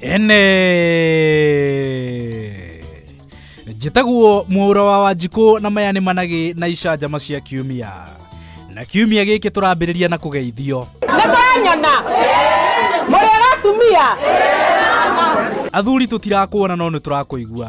ene njĩtagwo mũũra wa wanjikũ na maya nĩ managĩ na icanjama cia kiumia na kiumia gĩkĩ tũrambĩrĩria na kũgeithio nĩ mwanyona mũrĩ ĩratumia athuri tũtirakuona no nĩ tũrakũigua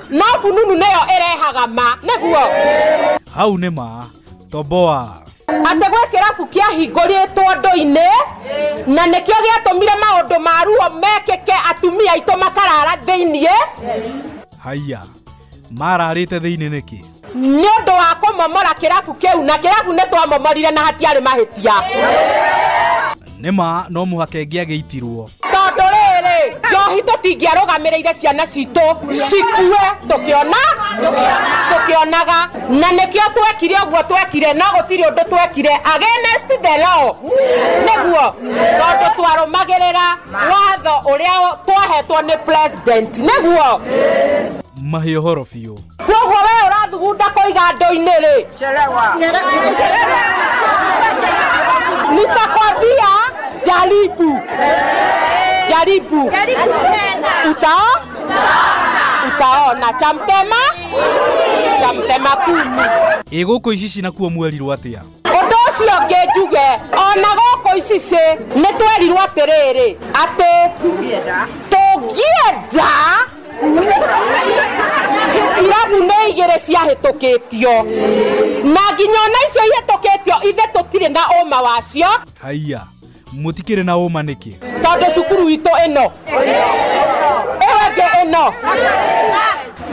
No fununu nĩyo ĩrehaga ma. Nĩguo. Hau nĩ ma. Toboa. Atĩ gwĩ kĩrabu kĩahingũrĩtwo ndũ-inĩ na nĩkĩo gĩatũmire maũndũ ma ruo mekĩke atumia aitũ makarara thĩinĩ. Haiya. Mararĩte thĩinĩ nĩkĩ? nĩ ũndũ wa kũmomora kĩrabu kĩu na kĩrabu nĩ twamomorire na hatiarĩ mahĩtia nĩ ma no mũhaka ĩngĩ agĩitirwo tondũ rĩrĩ njohi tũtingĩarũgamĩrĩire ciana citũ cikue tũkĩona tũkĩonaga na nĩkĩo twekire ũguo twekire no gũtirĩ ũndũ twekire against the law nĩguo tondũ twarũmagĩrĩra watho ũrĩa twahetwo nĩ president nĩguo mahĩ ũhoro biũ Kwoguo we urathugunda koiga ndoinĩ rĩ nitakwambia jaribu jaribu utao utaona chamtema chamtema kumi ĩ gũkũ ici cinakuo mwerirwo atĩa ũndũ ũcio ũngĩ njuge ona gũkũ icicĩ nĩ twerirwo atĩrĩrĩ atĩ tũngĩenda irabu nĩ igĩrĩ ciahĩtũkĩtio na nginya ona icio ihĩtũkĩtio ithe tũtirĩ na ũma wacio haiya mutikire na uma niki tondu cukuru itu ino ewenge ino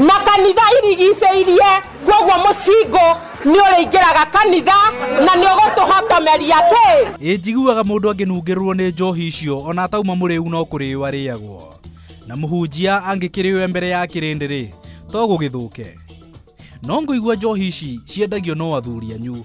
makanitha irigicĩirie koguo mũcingo nĩ ũrĩingĩraga kanitha na nĩ ũgũtũhotomeria kĩ ĩ njiguaga mũndũ angĩnungĩrĩrwo nĩ njohi icio ona atauma mũrĩu no kũrĩo arĩagwo na mũhunjia angĩkĩrĩwe mbere ya kĩrĩndĩ-rĩ to gũgĩthũke no ngũigua njohi ici ciendagio no athuri anyu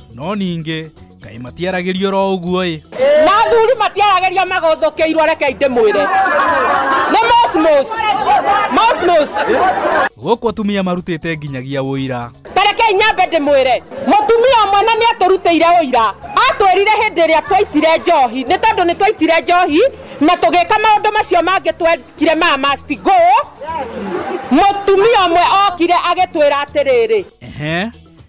no ningĩ kaĩ matiaragĩrio ro ũguo ĩ na athuri matiaragĩria magothũkĩirwo rekei ndĩmwĩre nĩ mosmos mosmos gũkũ atumia marutĩte nginyagia ũira tarekei nyambe ndĩmwĩre mũtumia ũmwe na nĩ atũrutĩire ũira atwĩrire hĩndĩ ĩrĩa twaitire njohi nĩ tondũ nĩ twaitire njohi na tũgĩka maũndũ macio mangĩ twekire ma must go mũtumia ũmwe okire agĩtwĩra atĩrĩrĩ ehe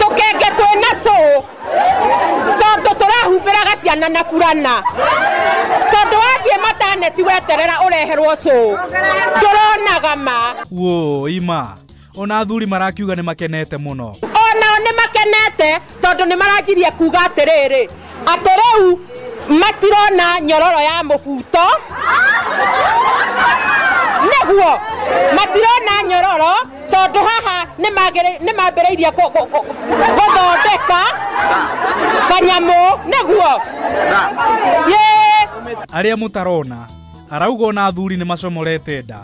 tũkenge twĩ na cũ tondũ tũrahumbĩraga ciana na burana tondũ wathiĩ mataneti weterera ũreherwo cũ ndũronaga ma wo ima ona athuri marakiuga nĩ makenete mũno onao nĩ makenete tondũ nĩ maranjirie kuga atĩrĩrĩ atĩ rĩu matirona nyororo ya mũbuto nĩguo matirona nyororo tondũ haha nĩ mambĩrĩirie gũthondeka kanyamũ nĩguo arĩa mũtarona arauga ona athuri nĩ macomorete nda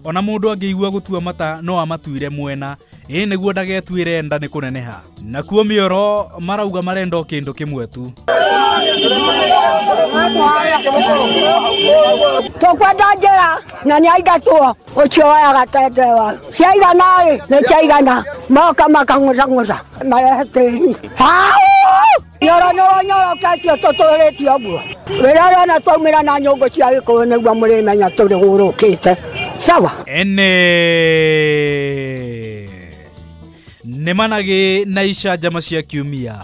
ona mũndũ angĩigua gũtua mata no amatuire mwena ĩĩ nĩguo ndagetuĩre nda nĩ kũneneha nakuo mĩoro marauga marenda o kĩndũ kĩmwe tu tũkwenda njĩra na nĩ aingatwo ũcio wayaga tendewa ciaigana rĩ nĩ ciaigana moka makang'ũcang'ũca marehe tĩri Hau! nyoro nyoro nyoro ketio tũtũrĩtio guo rĩrĩa rĩona twaumĩra na nyũngũ cia gĩkũyũ nĩguo mũrĩmenya tũrĩ gũrũkĩte sawa ene nĩ managĩ na icanjama cia kiumia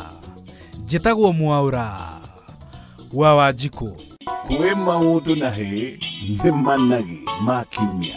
njĩtagwo mwaũra wa wanjikũ kwĩ maũndũ na hĩ nĩ managĩ ma kiumia